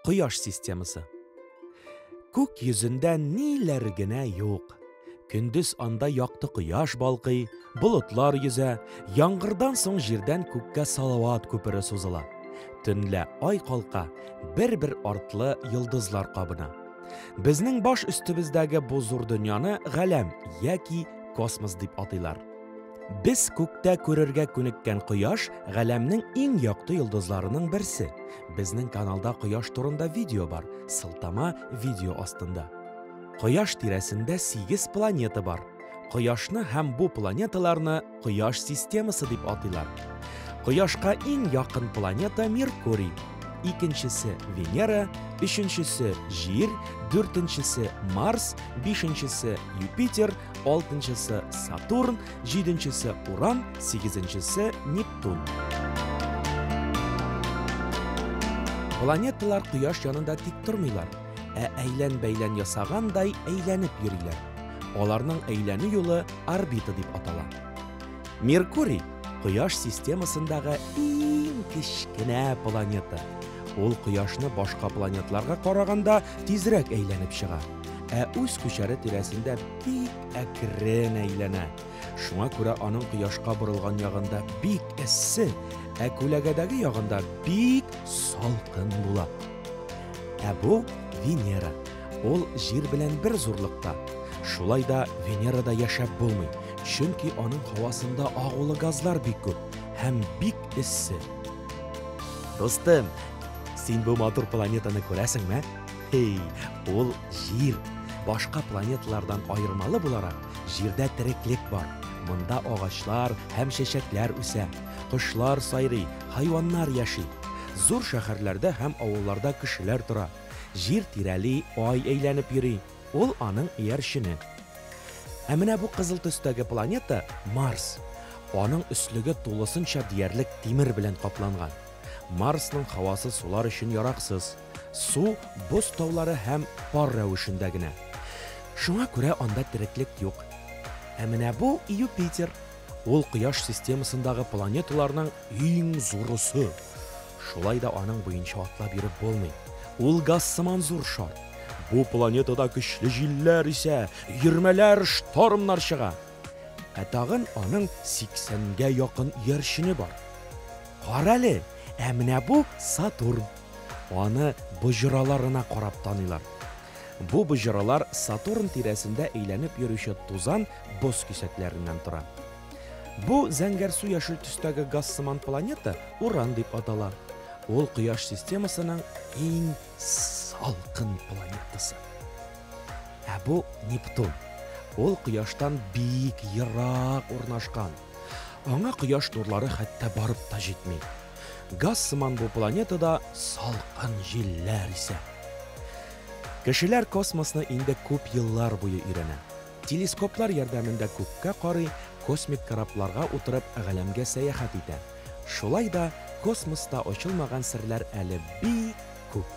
Кояш системасы. Күк йөзендә ниләр генә юк. Көндез анда якты кояш балкый, болытлар йөзә, яңгырдан соң җирдән күккә салават күпере сузыла. Төнлә ай калка, бер-бер артлы йолдызлар кабына. Безнең баш өстебездәге бу зур дөньяны галәм яки космос дип атыйлар. Без күктә күрергә күнеккән кояш галәмнең иң якты йолдызларының берсе. Безнең каналда кояш турында видео бар, сылтама видео астында. Кояш тирәсендә 8 планета бар. Кояшны һәм бу планеталарны Кояш системасы дип атыйлар. Кояшка иң якын планета Меркурий, икенчесе Венера, өченчесе Җир, дүртенчесе Марс, бишенчесе Юпитер, алтынчысы Сатурн, җиденчесе Уран, сигезенчесе Нептун. Планеталар Кояш янында тик тормыйлар. ә әйлән-бәйлән ясагандай әйләнеп йөриләр. Аларның әйләнү юлы орбита дип атала. Меркурий Кояш системасындагы иң кечкенә планета. Ул Кояшны башка планетларга караганда тизрәк әйләнеп чыга, ә үз күчәре тирәсендә бик әкрен әйләнә. Шуңа күрә аның Кояшка борылган ягында бик эссе, ә күләгәдәге ягында бик салкын була. Ә бу Венера. Ул Җир белән бер зурлыкта. Шулай да Венерада яшәп булмый, чөнки аның һавасында агулы газлар бик күп һәм бик эссе. Дустым, син бу матур планетаны күрәсеңме? Эй, ул Җир. Башка планеталардан аермалы буларак, Җирдә тереклек бар. Монда агачлар һәм чәчәкләр үсә. Кошлар сайрый, хайваннар яши. Зур шәһәрләрдә һәм авылларда кешеләр тора. Җир тирәли, ай әйләнеп йөри. Ул аның иярчене. Ә менә бу кызыл төстәге планета Марс. Аның өслеге тулысынча диярлек тимер белән капланган. Марсның һавасы сулар өчен яраксыз. Су боз таулары һәм пар рәвешендә генә. Шуңа күрә анда тереклек юк. Ә менә бу Юпитер. Ул Кояш системасындагы планеталарның иң зурысы. Шулай да аның буенча атлап йөреп булмый. Ул газ сыман зур шар. Бу планетада көчле җилләр исә, өермәләр, штормнар чыга. Ә тагын аның 80 гә якын иярчене бар. Карале, ә менә бу Сатурн. Аны боҗраларына карап таныйлар. Бу боҗралар Сатурн тирәсендә әйләнеп йөрүче тузан, боз кисәкләреннән тора. Бу зәңгәрсу-яшел төстәге газ сыман планета Уран дип атала. Ул Кояш системасының иң салкын планетасы. Ә бу Нептун. Ул Кояштан бик ерак урнашкан. Аңа кояш нурлары хәтта барып та җитми. Газ сыман бу планетада салкын җилләр исә. Кешеләр космосны инде күп еллар буе өйрәнә. Телескоплар ярдәмендә күккә карый, космик корабларга утырып галәмгә сәяхәт итә. Шулай да космоста ачылмаган серләр әле бик күп.